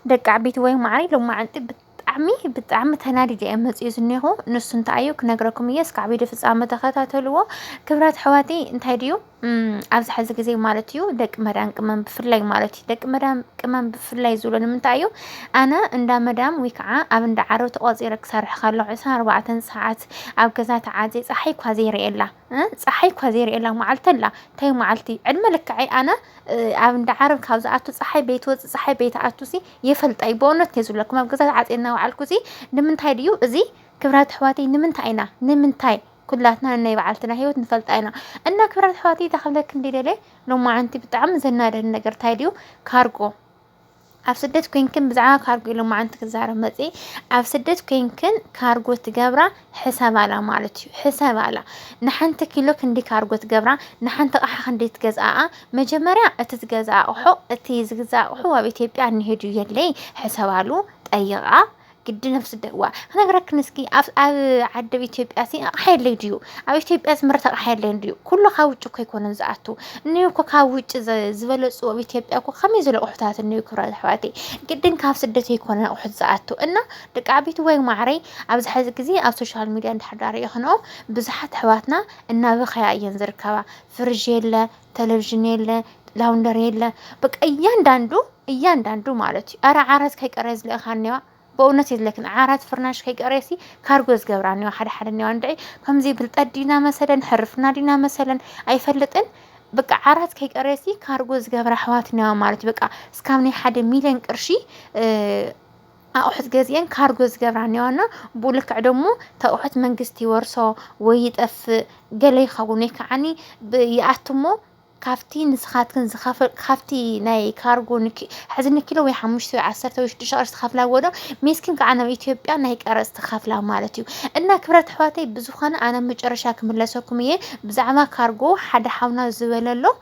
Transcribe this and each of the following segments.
ደቂ ዓበይቲ ወይ ማዕረይ ሎማዓንቲ ብጣዕሚ ብጣዕሚ ተናዲደ እየ መፅኡ ዝኒኹ ንሱ እንታይ እዩ ክነግረኩም እየ እስካዕ ቪድዮ ፍፃመ ተኸታተልዎ ክብራት ሕዋቲ እንታይ ድዩ ኣብዚ ሕዚ ግዜ ማለት እዩ ደቂ መዳም ቅመም ብፍላይ ማለት እዩ ደቂ መዳም ቅመም ብፍላይ ዝብሎ ንምንታይ እዩ ኣነ እንዳ መዳም ወይ ከዓ ኣብ እንዳ ዓረብ ተቆፂረ ክሰርሕ ከለኩ ዕስራን ኣርባዕተን ሰዓት ኣብ ገዛ ተዓፂ ፀሓይ እኳ ዘይርእየላ ጸሓይ እኳ ዘይርእየላ መዓልቲ ኣላ እንታይ መዓልቲ ዕድመ ልክዐይ ኣነ ኣብ እንዳ ዓረብ ካብ ዝኣቱ ጸሓይ በይትወጽእ ጸሓይ በይትኣቱሲ የፈልጣይ በእውነት እየ ዝብለኩም ኣብ ገዛ ተዓጽየ እናበዓልኩሲ ንምንታይ ድዩ እዚ ክብራት ኣሕዋተይ ንምንታይ ኢና ንምንታይ ኩላትና ናይ በዓልትና ህይወት ንፈልጣ ኢና እና ክብራት ኣሕዋተይ እታ ክብለክን ደለ ሎማዓንቲ ብጣዕሚ ዘናደድ ነገር እንታይ ድዩ ካርጎ ኣብ ስደት ኮይንክን ብዛዕባ ካርጎ ኢሉ መዓንቲ ክዛረብ መጽኢ ኣብ ስደት ኮይንክን ካርጎ ትገብራ ሕሰባላ ማለት እዩ ሕሰባላ ንሓንቲ ኪሎ ክንዲ ካርጎ ትገብራ ንሓንቲ ቕሓ ክንዲ ትገዝኣኣ መጀመርያ እቲ ዝገዛ ኣቕሖ እቲ ዝግዛ ኣቕሑ ኣብ ኢትዮጵያ እንሄዱ የለይ ሕሰባሉ ጠይቓ ግድን ኣብ ስደት እዋ ክነግረክን እስኪ ኣብ ኣብ ዓዲ ኣብ ኢትዮጵያ ሲ ኣቕሓ የለይ ድዩ ኣብ ኢትዮጵያ ዝምረት ኣቕሓ የለይ ድዩ ኩሉ ካብ ውጭ እኮ ኣይኮነን ዝኣቱ እኒኡ እኮ ካብ ውጭ ዝበለፁ ኣብ ኢትዮጵያ እኮ ከመይ ዝበለ ኣቑሑታት እኒኡ ክብራ ኣሕዋቴ ግድን ካብ ስደት ኣይኮነ ኣቑሑት ዝኣቱ እና ደቂ ዓበይቲ ወይ ማዕረይ ኣብዚ ሕዚ ግዜ ኣብ ሶሻል ሚዲያ እንዳሕዳር የኽንኦ ብዙሓት ኣሕዋትና እናበኸያ እየን ዝርከባ ፍርዥ የለ ተለቭዥን የለ ላውንደሪ የለ በቃ እያንዳንዱ እያንዳንዱ ማለት እዩ ኣረ ዓራት ከይቀረየ ዝለእኻ እኒዋ በእውነት የዝለክን ዓራት ፍርናሽ ከይቀረየሲ ካርጎ ዝገብራ እኒዋ ሓደ ሓደ እኒዋ እንድዒ ከምዚ ብልጠት ዲና መሰለን ሕርፍና ዲና መሰለን ኣይፈልጥን በቃ ዓራት ከይቀረየሲ ካርጎ ዝገብራ ኣሕዋት እኒዋ ማለት እዩ በቃ እስካብ ናይ ሓደ ሚሊዮን ቅርሺ ኣቑሑት ገዚኤን ካርጎ ዝገብራ እኒዋ እና ብኡ ልክዕ ደሞ እቲ ኣቑሑት መንግስቲ ይወርሶ ወይ ይጠፍእ ገለ ይኸውን ወይ ከዓኒ ይኣቱ እሞ ካብቲ ንስኻትክን ዝኸፈል ካብቲ ናይ ካርጎ ሕዚ ንኪሎ ወይ ሓሙሽተ ወይ ዓሰርተ ወይ ሽዱሽተ ቅርሺ ትኸፍላ ወዶ ሜስኪን ከዓ ናብ ኢትዮጵያ ናይ ቀረፅ ትኸፍላ ማለት እዩ እና ክብረት ኣሕዋተይ ብዝኾነ ኣነ መጨረሻ ክምለሰኩም እየ ብዛዕባ ካርጎ ሓደ ሓውና ዝበለሎ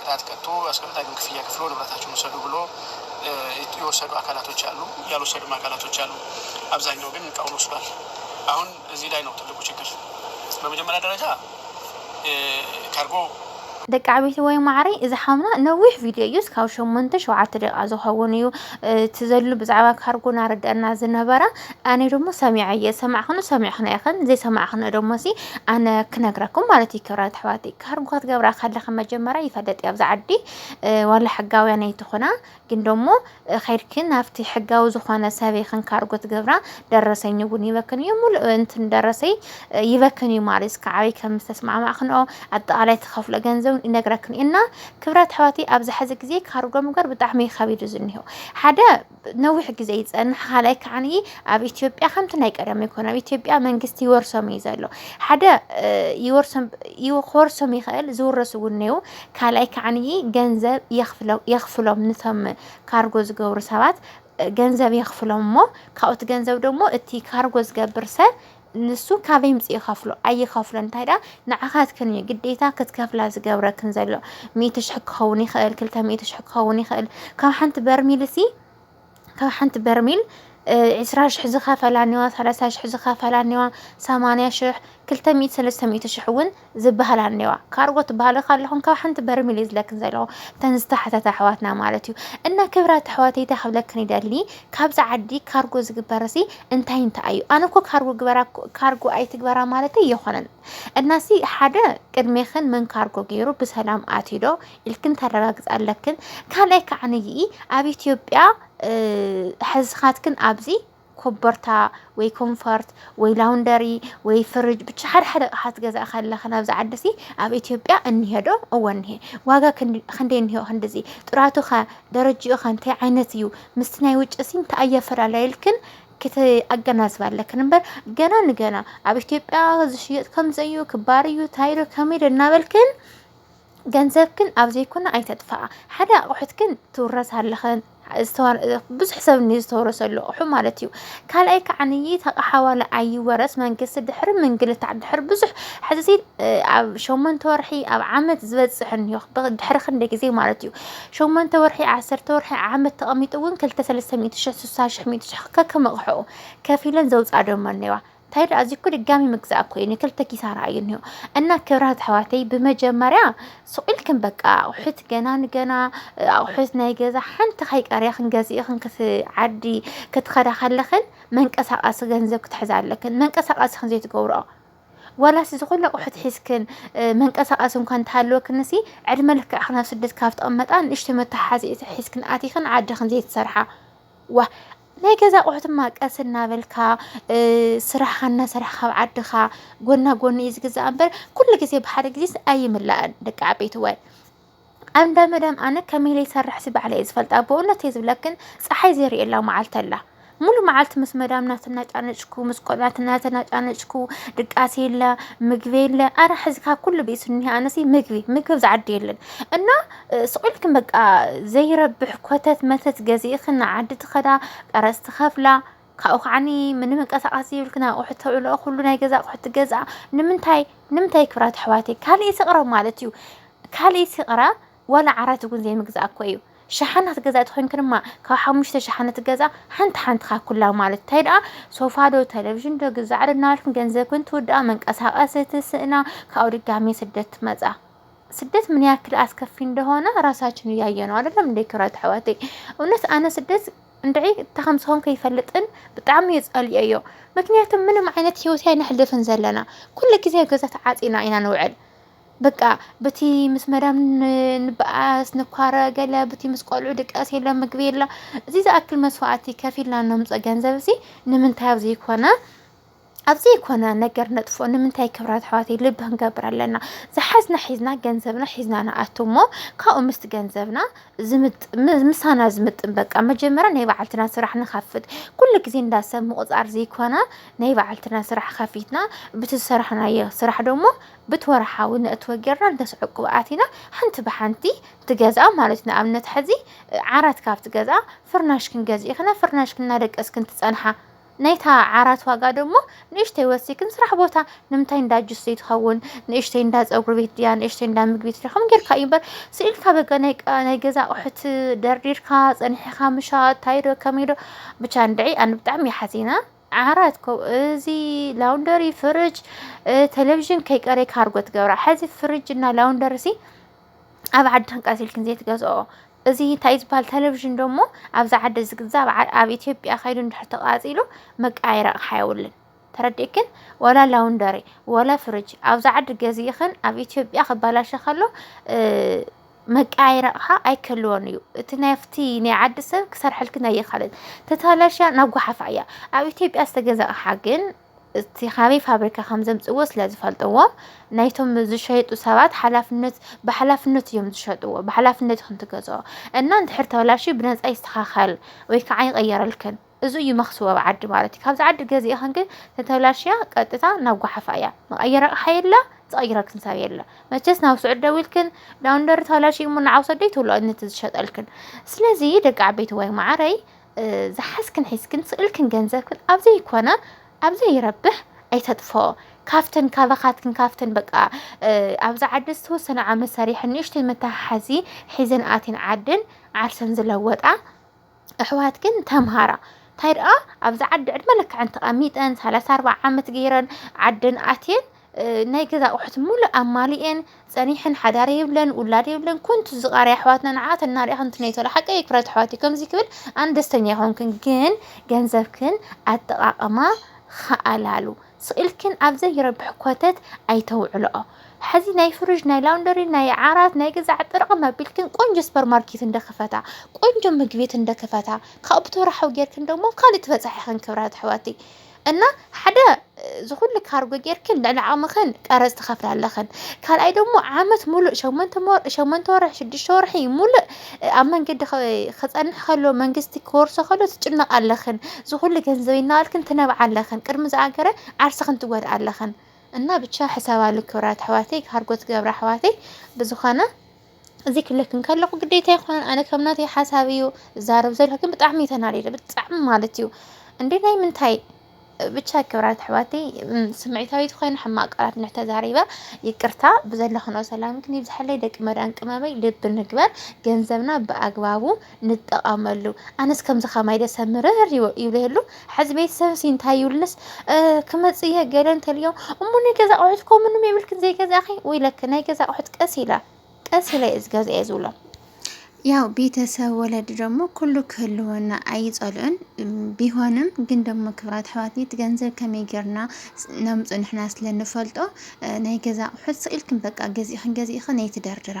ቅጣት ቀጡ አስቀምጣ ግን ክፍያ ክፍሎ ንብረታችሁን ውሰዱ ብሎ የወሰዱ አካላቶች አሉ ያልወሰዱም አካላቶች አሉ አብዛኛው ግን እቃውን ወስዷል አሁን እዚህ ላይ ነው ትልቁ ችግር በመጀመሪያ ደረጃ ካርጎ ደቂ ዓበይቲ ወይ ማዕረይ እዚ ሓውና ነዊሕ ቪድዮ እዩ እስካብ ሸሞንተ ሸውዓተ ደቂቃ ዝኸውን እዩ እቲ ዘሉ ብዛዕባ ካርጎ ናረድአና ዝነበረ ኣነ ደሞ ሰሚዐ እየ ሰማዕክኑ ሰሚዕክነ ኢኽን ዘይሰማዕክነ ደሞሲ ኣነ ክነግረኩም ማለት እዩ ክብራት ኣሕዋተይ ካርንኳ ትገብራ ከለኺ መጀመርያ ይፈለጥ እዩ ኣብዚ ዓዲ ዋላ ሕጋውያን ኣይትኾና ግን ደሞ ኸይድክን ናብቲ ሕጋዊ ዝኾነ ሰበይ ክንካርጎ ትገብራ ደረሰኝ እውን ይበክን እዩ ሙሉእ እንትን ደረሰይ ይበክን እዩ ማለት እስከ ዓበይ ከም ዝተስማዕማዕክንኦ ኣጠቃላይ ተኸፍሎ ገንዘብ ይነግረክን እና ክብራት ኣሕዋተይ ኣብዚ ሕዚ ግዜ ካርጎ ምግባር ብጣዕሚ ከቢዱ ዝኒሆ ሓደ ነዊሕ ግዜ ይጸንሕ ካልኣይ ከዓኒ ኣብ ኢትዮጵያ ከምቲ ናይ ቀደም ይኮነ ኣብ ኢትዮጵያ መንግስቲ ይወርሶም እዩ ዘሎ ሓደ ክወርሶም ይኽእል ዝውረሱ እውን እኔው ካልኣይ ከዓኒ ገንዘብ የኽፍሎም ንቶም ካርጎ ዝገብሩ ሰባት ገንዘብ የኽፍሎም እሞ ካብኡቲ ገንዘብ ደግሞ እቲ ካርጎ ዝገብር ሰብ ንሱ ካበይ ምጽ ይኸፍሎ ኣይኸፍሎ እንታይ ደኣ ንዓኻትክን እዩ ግዴታ ክትከፍላ ዝገብረክን ዘሎ ሚእቲ ሽሕ ክኸውን ይኽእል ክልተ ሚእቲ ሽሕ ክኸውን ይኽእል ካብ ሓንቲ በርሚል እሲ ካብ ሓንቲ በርሚል ዕስራ ሽሕ ዝኸፈላ እኒዋ ሰላሳ ሽሕ ዝኸፈላ እኒዋ ሰማንያ ሽሕ ክልተ ሚእቲ ሰለስተ ሚእቲ ሽሕ እውን ዝብሃል ኣኔዋ ካርጎ ትብሃሉ ካለኹም ካብ ሓንቲ በርሚል እዩ ዝለክን ዘለዎ ተን ዝተሓተተ ኣሕዋትና ማለት እዩ እና ክብራት ኣሕዋተይ እንታይ ክብለክን ይደሊ ካብዚ ዓዲ ካርጎ ዝግበርሲ እንታይ እንታይ እዩ ኣነ እኮ ካርጎ ግበራ ካርጎ ኣይትግበራ ማለት ኣይኮነን እናሲ ሓደ ቅድሜኽን መን ካርጎ ገይሩ ብሰላም ኣትዶ ኢልክን ተረጋግፅ ኣለክን ካልኣይ ከዓ ንይኢ ኣብ ኢትዮጵያ ሕዝኻትክን ኣብዚ ኮቦርታ ወይ ኮንፈርት ወይ ላውንደሪ ወይ ፍርጅ ብቻ ሓደ ሓደ ኣቕሓ ትገዛእ ከለኺ ናብዚ ዓድሲ ኣብ ኢትዮጵያ እኒሄዶ እወ እኒሄ ዋጋ ክንደይ እኒሄ ክንድዚ ጥራቱ ከ ደረጅኡ ከ እንታይ ዓይነት እዩ ምስቲ ናይ ውጭ ሲ እንታይ ኣየፈላለየልክን ክትኣገናዝባ ኣለክን እምበር ገና ንገና ኣብ ኢትዮጵያ ዝሽየጥ ከምዘዩ ክባር እዩ ታይሎ ከመይ ዶ እናበልክን ገንዘብክን ኣብ ዘይኮነ ኣይተጥፍኣ ሓደ ኣቑሑትክን ትውረሳ ኣለኽን ብዙሕ ሰብ እኒኦ ዝተወረሰሉ ኣቑሑ ማለት እዩ። ካልኣይ ከዓንይ እቲ ኣቕሓ ዋላ ኣይወረስ መንግስቲ ድሕሪ ምንግልታዕ ድሕሪ ብዙሕ ሕዚ እዚ ኣብ ሸሞንተ ወርሒ ኣብ ዓመት ዝበፅሕ እኒኦ ድሕሪ ክንደይ ግዜ ማለት እዩ ሸሞንተ ወርሒ ዓሰርተ ወርሒ ዓመት ተቐሚጡ እውን ክልተ ሰለስተ ሚእቲ ሽሕ ስሳ ሽሕ ሚእቲ ሽሕ ከከም ኣቕሕኡ ከፊለን ዘውፅኣ ደሞ እኒኦዋ። እንታይ ደኣ እዚ እኮ ድጋሚ ምግዛእ እኮ እዩ ንክልተ ኪሳራ እዩ እኒሆ እና ክብራት ኣሕዋተይ ብመጀመርያ ስቑኢልክን በቃ ኣቑሑት ገና ንገና ኣቑሑት ናይ ገዛ ሓንቲ ከይቀርያ ክንገዝእኽን ክትዓዲ ክትኸዳ ከለኽን መንቀሳቐሲ ገንዘብ ክትሕዛ ኣለክን መንቀሳቐሲ ክን ዘይትገብርኦ ዋላስ እዚ ኩሉ ኣቑሑት ሒዝክን መንቀሳቐሲ እንኳ እንተሃለወክን ሲ ዕድመ ልክዕ ክናብ ስደት ካብ ተቐመጣ ንእሽቶ መተሓሓዚ ሒዝክን ኣቲኽን ዓድኽን ዘይትሰርሓ ዋ ናይ ገዛ ኣቑሑት እማ ቀስ እናበልካ ስራሕኻ እናሰራሕካ ኣብ ዓድኻ ጎና ጎኒ እዩ ዝግዛእ እምበር ኩሉ ግዜ ብሓደ ግዜስ ኣይምላእን ደቂ ዓበይቲ ዋይ ኣብ እንዳ መዳም ኣነ ከመይ ኢለ ይሰርሕ ሲ ባዕለ እየ ዝፈልጣ ብእውነት እየ ዝብለክን ፀሓይ ዘርእየላ መዓልቲ ኣላ ሙሉ መዓልቲ ምስ መዳም እናተናጫነጭኩ ምስ ቆልዑት እናተናጫነጭኩ ድቃስ የለ ምግቢ የለ ኣረ ሕዚ ካብ ኩሉ ብእሱ እኒሀ ኣነሲ ምግቢ ምግቢ ዝዓዲ የለን እና ስቕ ኢልክን በቃ ዘይረብሕ ኮተት መተት ገዚእኽን ንዓዲ ትኸዳ ቀረፅ ትኸፍላ ካብኡ ከዓኒ ምንምንቀሳቐስ ዘይብልክን ኣቑሑ ተብልኦ ኩሉ ናይ ገዛ ኣቑሑ ትገዝኣ ንምንታይ ንምንታይ ክብራት ኣሕዋተይ ካልእ ስቕረ ማለት እዩ ካልእ ስቕረ ዋላ ዓራት እውን ዘይምግዛእ እኮ እዩ ሸሓናት ገዛ ትኾይንክ ድማ ካብ ሓሙሽተ ሸሓነት ገዛ ሓንቲ ሓንትኻ ኩላ ማለት እንታይ ደኣ ሶፋ ዶ ቴሌቭዥን ዶ ግዛዕ ዶ እናበልክን ገንዘብክን ትውድኣ መንቀሳቐሲ ትስእና ካብኡ ድጋሜ ስደት ትመፃ ስደት ምን ያክል አስከፊ እንደሆነ ራሳችን እያየ ነው አይደለም እንደ ክብራት አሕዋተይ እውነት አነ ስደት እንድዒ እታ ከም ዝኾን ከይፈልጥን ብጣዕሚ እዩ ጸልኦዮ ምክንያቱ ምንም ዓይነት ሂወት ኣይነሕልፍን ዘለና ኩሉ ግዜ ገዛ ተዓጺና ኢና ንውዕል በቃ በቲ ምስ መዳም ንበኣስ ንኳረ ገለ በቲ ምስ ቆልዑ ድቃስ የለ ምግቢ የለ እዚ ዝኣክል መስዋእቲ ከፊልና እነምፅኦ ገንዘብ እዚ ንምንታይ ኣብ ዘይኮነ ኣብ ዘይኮነ ነገር ነጥፎ ንምንታይ ክብራት ኣሕዋተይ ልቢ ክንገብር ኣለና ዝሓዝና ሒዝና ገንዘብና ሒዝና ንኣቱ እሞ ካብኡ ምስቲ ገንዘብና ምሳና ዝምጥን በቃ መጀመርያ ናይ በዓልትና ስራሕ ንኸፍት ኩሉ ግዜ እንዳ ሰብ ምቑፃር ዘይኮነ ናይ በዓልትና ስራሕ ከፊትና ብቲ ዝሰራሕናዮ ስራሕ ደሞ ብቲ ወርሓዊ ነእትወ ጌርና እንተስዕቅብ ኣቲና ሓንቲ ብሓንቲ ትገዝኣ ማለት እዩ ንኣብነት ሕዚ ዓራት ካብ ትገዝኣ ፍርናሽ ክንገዝእ ኢኽና ፍርናሽ ክናደቀስ ክንትፀንሓ ናይታ ዓራት ዋጋ ደሞ ንእሽተይ ወሲክን ስራሕ ቦታ ንምንታይ እንዳ ጁስ ዘይትኸውን ንእሽተይ እንዳ ፀጉሪ ቤት ድያ ንእሽተይ እንዳ ምግቢ ድያ ከምኡ ጌርካ እዩ እምበር ስኢልካ በጋ ናይ ቃ- ናይ ገዛ ኣቑሑት ደርዲርካ ፀኒሕኻ ምሻጥ ታይዶ ከመይዶ ብቻ እንድዒ ኣነ ብጣዕሚ እየ ሓዚና ዓራት ኮ እዚ ላውንደሪ ፍርጅ እ፣ ቴሌቭዥን ከይቀረይ ካርጎ ትገብራ ሕዚ ፍርጅ እና ላውንደሪ ሲ ኣብ ዓድን ቀሲልክን ዘይትገዝኦ እዚ እንታይ ዝበሃል ቴሌቪዥን ደሞ ኣብዚ ዓዲ ዝግዛእ ኣብ ኢትዮጵያ ከይዱ እንድሕር ተቃፂሉ መቀያየሪ ኣቕሓ የብሉን ተረዲእክን ወላ ላውንደሪ ወላ ፍርጅ ኣብዚ ዓዲ ገዚእኽን ኣብ ኢትዮጵያ ክበላሸ ከሎ መቀያየሪ ኣቕሓ ኣይክህልዎን እዩ እቲ ናብቲ ናይ ዓዲ ሰብ ክሰርሐልክን ኣይኽእልን ተተበላሽያ ናብ ጎሓፋ እያ ኣብ ኢትዮጵያ ዝተገዛ ኣቕሓ ግን እቲ ካበይ ፋብሪካ ከም ዘምፅዎ ስለ ዝፈልጥዎ ናይቶም ዝሸጡ ሰባት ሓላፍነት ብሓላፍነት እዮም ዝሸጥዎ ብሓላፍነት ይኹን ትገዝኦ እና እንድሕር ተበላሽ ብነፃ ይስተኻኸል ወይ ከዓ ይቐየረልክን እዚ እዩ መክስቦ ኣብ ዓዲ ማለት እዩ ካብዚ ዓዲ ገዚእኽን ግን ተተበላሽያ ቀጥታ ናብ ጓሓፋ እያ መቐየሪ ኣቕሓ የለ ዝቐይረልክን ሰብ የለ መቸስ ናብ ስዑድ ደዊልክን ዳውንደር ተበላሽ እሞ ንዓውሰደይ ትብሎ ነቲ ዝሸጠልክን ስለዚ ደቂ ዓበይቲ ወይ ማዓረይ ዝሓዝክን ሒዝክን ስእልክን ገንዘብክን ኣብ ዘይኮነ ኣብ ዘይረብሕ ኣይተጥፍኦ ካብተን ካባኻትክን ካብተን በቃ ኣብዚ ዓዲ ዝተወሰነ ዓመት ሰሪሐን ንእሽተይ መተሓሓዚ ሒዘን ኣትን ዓድን ዓርሰን ዝለወጣ ኣሕዋትክን ተምሃራ እንታይ ደኣ ኣብዚ ዓዲ ዕድመ ልክዐን ተቐሚጠን ሰላሳ ኣርባዓ ዓመት ገይረን ዓደን ኣትየን ናይ ገዛ ኣቑሑት ሙሉእ ኣማሊኤን ጸኒሐን ሓዳር የብለን ውላድ የብለን ኮንቱ ዝቓርያ ኣሕዋትና ንዓት እናርያ ኮንቱ ነይተሎ ሓቀይ ክብረት ኣሕዋት ከምዚ ክብል ኣን ደስተኛ ይኾንክን ግን ገንዘብክን ኣጠቃቅማ ኸኣላሉ ስኢልክን ኣብ ዘይረብሕ ኮተት ኣይተውዕልኦ ሐዚ ናይ ፍርጅ ናይ ላውንደሪ ናይ ዓራት ናይ ገዛዕ ጥርቕም ኣቢልክን ቆንጆ ሱፐር ማርኬት እንደክፈታ ቆንጆ ምግቤት እንደክፈታ ካብኡ ብተወራሓዊ ጌርክን ደሞ ካልእ ትበጻሕ ኢኽን ክብራት ኣሕዋተይ እና ሓደ እዚ ኩሉ ካርጎ ጌርክን ልዕሊ ዓቕምኽን ቀረጽ ትኸፍላ ኣለኽን ካልኣይ ደሞ ዓመት ሙሉእ ሸሞንተ ሞ- ሸሞንተ ወርሒ ሽዱሽተ ወርሒ ሙሉእ እ፣ ኣብ መንገዲ ኸ- ክጸንሕ ከሎ መንግስቲ ክወርሶ ከሎ ትጭነቓ ኣለኽን እዚ ኩሉ ገንዘበይ እናበልክን ትነብዓ ኣለኽን ቅድሚ ዝኣገረ ዓርስኽን ትጎድኣ ኣለኽን እና ብቻ ሕሰባሉ ክብራት ኣሕዋተይ ካርጎ ትገብራ ኣሕዋተይ ብዝኾነ እዚ ክብለኪ እንከለኹ ግዴታ ኣይኮነን ኣነ ከም ናተይ ሓሳብ እዩ ዝዛረብ ዘለኹ ግን ብጣዕሚ እዩ ተናዲደ ብጣዕሚ ማለት እዩ እንዴ ናይ ምንታይ ብቻ ክብራት ኣሕዋቲ ስምዒታዊት ኮይነ ሕማቅ ቃላት እንተተዛሪበ ይቅርታ ብዘለኽኖ ሰላምክን ይብዝሓለይ ደቂ መዳም ቅመመይ ልቢ ንግበር ገንዘብና ብኣግባቡ ንጠቐመሉ ኣነስ ከምዚ ከማይ ደሰ ምርር ይብለሉ ሐዚ ቤተሰብ ሲ እንታይ ይብልስ ክመፅእ እየ ገለ እንተልዮም እሞ ናይ ገዛ ኣቑሑት እኮ ምንም የብልክን ዘይገዛእኺ ወይ ለክ ናይ ገዛ ኣቑሑት ቀስ ኢለ ቀስ ኢለ እየ ዝገዝኦ እየ ዝብሎም ያው ቤተሰብ ወለድ ደግሞ ኩሉ ክህልወና ኣይፀልዑን። ቢሆንም ግን ደግሞ ክብራት ኣሕዋት እቲ ገንዘብ ከመይ ጌርና ነምፁ ንሕና ስለንፈልጦ ናይ ገዛ ኣቑሑት ስኢልክን በቃ ገዚእኽን ገዚእኽን ኣይትደርድራ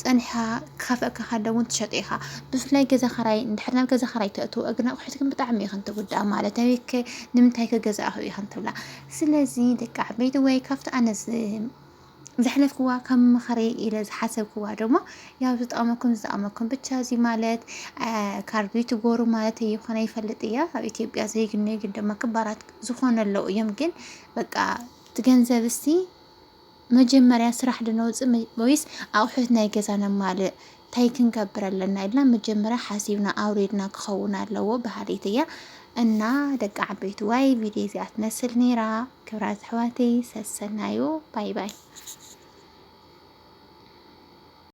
ጸኒሕካ ክኸፍኣካ ከሎ እውን ትሸጦ ኢኻ። ብፍላይ ገዛ ኸራይ እንድሕር ናብ ገዛ ኸራይ ተእትው እግን ኣቑሑት ግን ብጣዕሚ እየን ትጉዳእ ማለት ኣበይከ ንምንታይ ከገዛእኹ እየን ትብላ። ስለዚ ደቂ ዓበይቲ ወይ ካብቲ ኣነ ዘሕለፍክዋ ከም ምኽሪ ኢለ ዝሓሰብክዋ ደሞ ያው ዝጠቕመኩም ዝጠቕመኩም ብቻ እዚ ማለት ካርዱ ትጎሩ ማለት ይኾነ ይፈልጥ እያ ኣብ ኢትዮጵያ ዘይግነዩ ግን ደሞ ክባራት ዝኾነ ኣለዉ እዮም ግን በቃ እቲ ገንዘብ እስቲ መጀመርያ ስራሕ ዶ ነውፅእ ወይስ ኣቑሑት ናይ ገዛ ነማልእ ታይ ክንገብር ኣለና ኢልና መጀመርያ ሓሲብና ኣውሪድና ክኸውን ኣለዎ በሃሊት እያ እና ደቂ ዓበይቲ ዋይ ቪድዮ እዚኣ ትመስል ነይራ ክብራት ኣሕዋተይ ሰሰናዩ ባይ ባይ